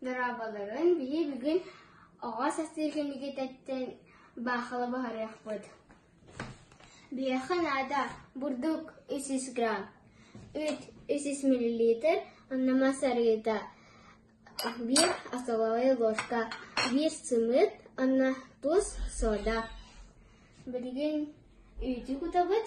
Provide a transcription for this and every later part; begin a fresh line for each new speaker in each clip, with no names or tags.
Дорооболоруҥ, били бүгүн оҕо састыыкын итиитэттэн баахыла буһарыахпыт Биһиэхэ наада бурдук үс сүүс грамм, үүт үс сүүс миллилитр, онно мас арыыта биир, остоловая ложка биир сымыыт, онно тус сода. Билигин үүтү кутабыт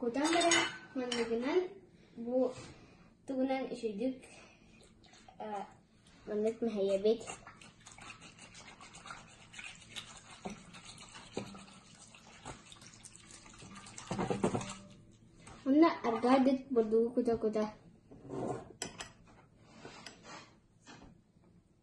Кутан баран манныгынан бу тугунан үчүгдүк маннык мэһэйэбит Онно арgaa бүт бурдугу кута-кута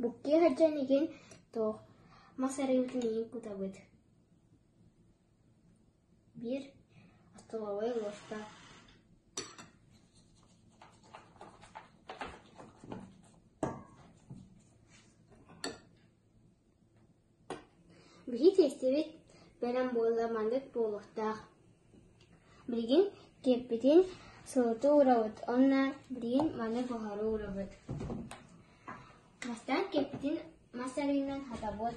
Буккуйа сылдьан игин туох, мас арыыбытын иһин кутабыт Биир остолобуой луоста Билии тиэстэбит бэлэм буолла маннык буолуохтаах: билигин киэппитин сылытыы уурабыт уонна билигин маны буһарыы уурабыт. Бастаан киэппитин мас арыынан хатабыт.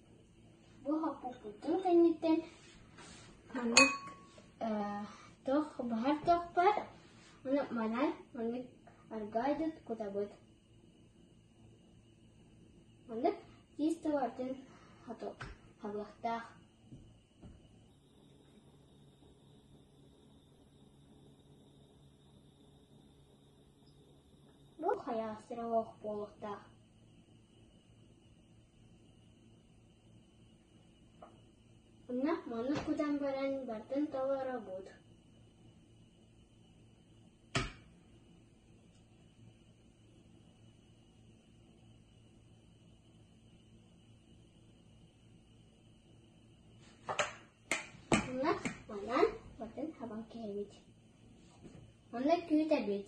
Бу хоппуппутун кэнниттэн маннык туох баһар туох баар ону манан маннык аргаа дыт кутабыт маннык тиис товартын хабыахтаах бу хайаастыра оох буолуохтаах Онно-маннык кутан баран бартын толоро буут Онно манан бартын хабан кэһэбит Онно күүт эбит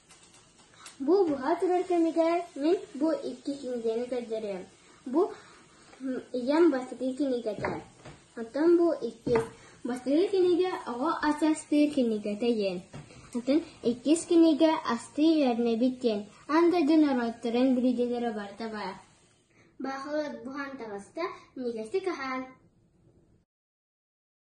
Бу быһа турар кэмигэр мин бу икки кинигэни көрдөрүөм, бу ийэм бастакы кинигэтэ, оттон бу иккис бастакы кинигэ оҕо ас астыыр кинигэтэ диэн, атын иккис кинигэ астыы үөрэнэбит диэн аан дойду норуоттарын билиилэрэ барыта баар. Баахылык буһан таҕыста, минигэстик аһаан